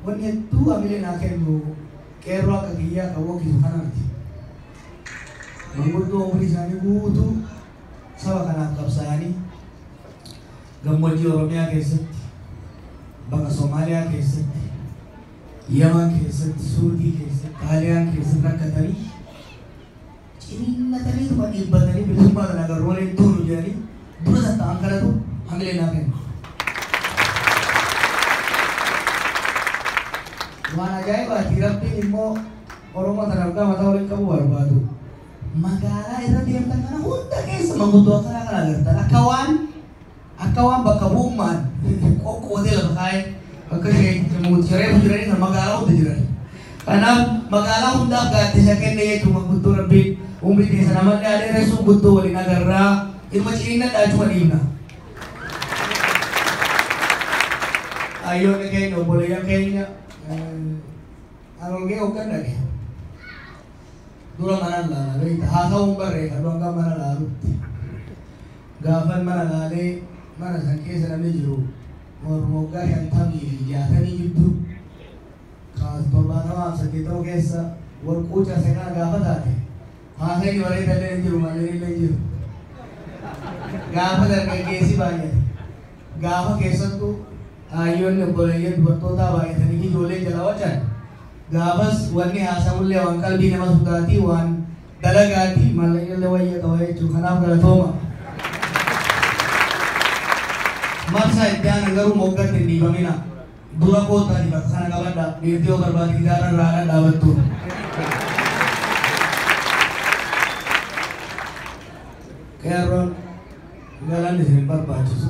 Wanni hedduu hamilee naa kennu qeerroo akka kiyyaa kan waggisu kanaati. Manguddoo umrii isaanii guutuu saba kanaaf qabsaa'anii gammoojjii Oromiyaa keessatti, baqa Somaaliyaa keessatti, Yaman keessatti, Suudii keessatti, Xaaliyaan keessatti rakkatanii, Ciniinnataniituma dhiibbatanii bilisummaa kana agarru malee hin duunu jedhanii dura tattaa'an kanatu hamilee naa kenne. Waan ajaa'ibaati Rabbiin immoo Oromoo tanaaf gaafata waliin qabu barbaadu. Magaalaa irra deemtan kana hunda keessa manguddoo akkanaa kana agartan akka waan Akka waan bakka bu'ummaan qoqqoodee lafa kaa'ee bakka Sheek Daawud Shareef jiranii san magaalaa hunda jiran. Kanaaf magaalaa hundaaf gaaddisa kenne jechuun manguddoo Rabbiin umrii keessan amallee haa dheeressu guddoo waliin agarraa ilma ciniinnadhaa achuma dhiifna. Hayyoonni keenya obboleeyyan keenya arolgee hoggan dhage dura mana laala beekta haasawuun barreeffadhu hanga mana laalutti. Gaafan mana laale mana san keessa namni jiru warruma waggaa shantamii fi jaatamii jiddu ka torbaatamaaf saddeettama keessa wal quucan san kana gaafa taate haasayni bareedalleen hin jiru mallinillee hin jiru. Gaafa dargaggeessi baay'ate gaafa keessattu haayyoonni obboleeyyan dubartootaa baay'atanii fi ijoolleen jalaa wacan gaafas wanni haasamullee waan qalbii nama sudaatii waan dalagaati maallaqni illee wayya qaba jechuudha kanaaf galatooma. Marsaa itti aanan garuu moggatti hin dhiifamina. Dura koottaa dibata sana qabadha. Dhiirtii yoo barbaade gitaara irraa haadha dhaabattu. Qeerroon galaan isin hin barbaachisu.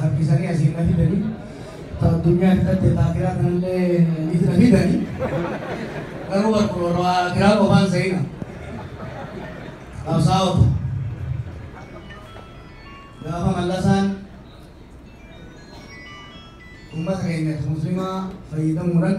harkisanii asiin na fidanii ta addunyaa fitatte ta akiraa kanallee ni na fidanii garuu barkuloon waa akiraa qofaan sa'ina qabsaa'ota gaafa mallasaan ummata keenyatti muslimaa fayyadamuudhaan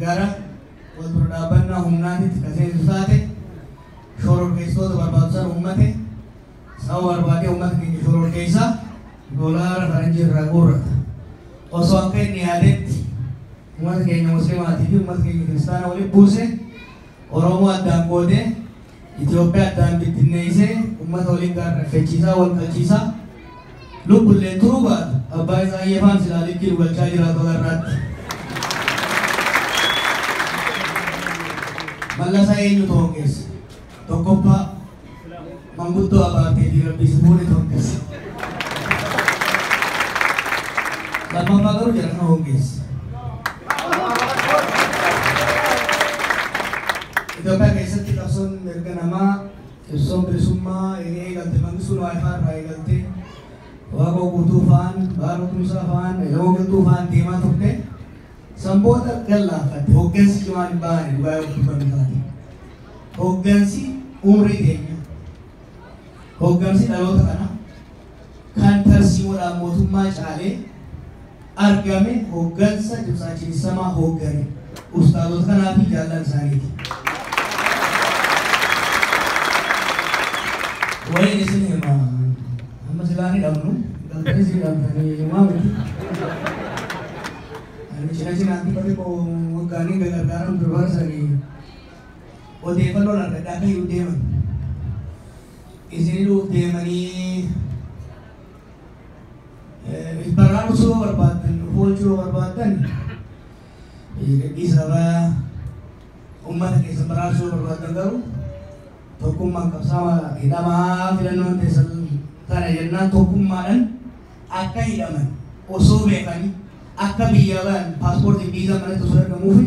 gara wal dura dhaabbannaa humnaatitti ka seensu taate, shororkeessitoota barbaadu san uummate, sababa barbaadee uummata keenya shororkeessaa, dolaara faranjii irraa guurrata. Osoo akka inni yaadetti uummata keenya muslimaatii fi uummata keenya kiristaana walitti buusee, Oromoo addaan qoodee, Itoophiyaa addaan bittinneessee ummata waliin gaara rakkachiisaa, wal qalchiisaa lubbulleen turuu baatu abbaa Itsaayee faan silaa likkii nu galchaa jiraatu agarraatti. Mallasa eenyutu hongeesse? Tokkoffaa manguddoo abaartee fi rabbii si fuune tokkessa. Lammaffaa garuu jarana hongeesse. Itoophiyaa keessatti qabsoon mirga namaa, qabsoon bilisummaa eega eegalte Mangistuu Niwaayifaa irraa eegaltee Waaqoo Guutuu fa'aan, Baaroo Tumsaa fa'aan, Elemoo Qilxuu fa'aan deemaa turte. San booda gad laaffatte. Hoggansi cimaan hin baane dhugaa yoo dubbanne taate. Hoggansi umrii keenya. Hoggansi dhaloota kanaa. kan tarsiimoodhaan mootummaa caalee argame hoggansa Dimtsaa Cinisamaa hooggane ustaazota kanaa fi jaallan isaaniiti. Waliin isin hima. Amma silaa ni dhabnu. Dhabdanii si dhabdanii himaa miti. Ani cina cinaatti bari koo waggaanii gargaaran durbarsanii odeeffannoon argadhaa akka hin deeman. Isin nuuf deemanii baraarsuu yoo barbaaddan nuuf oolchuu yoo barbaaddan gadhiisa irraa ummata keessan baraarsuu yoo barbaaddan garuu tokkummaan qabsaama hidhamaa filannoon teessan kana jennaan tokkummaadhaan akka hidhaman osoo beekanii akka biyya bayan paaspoortiin biizaa manatti osoo argamuufi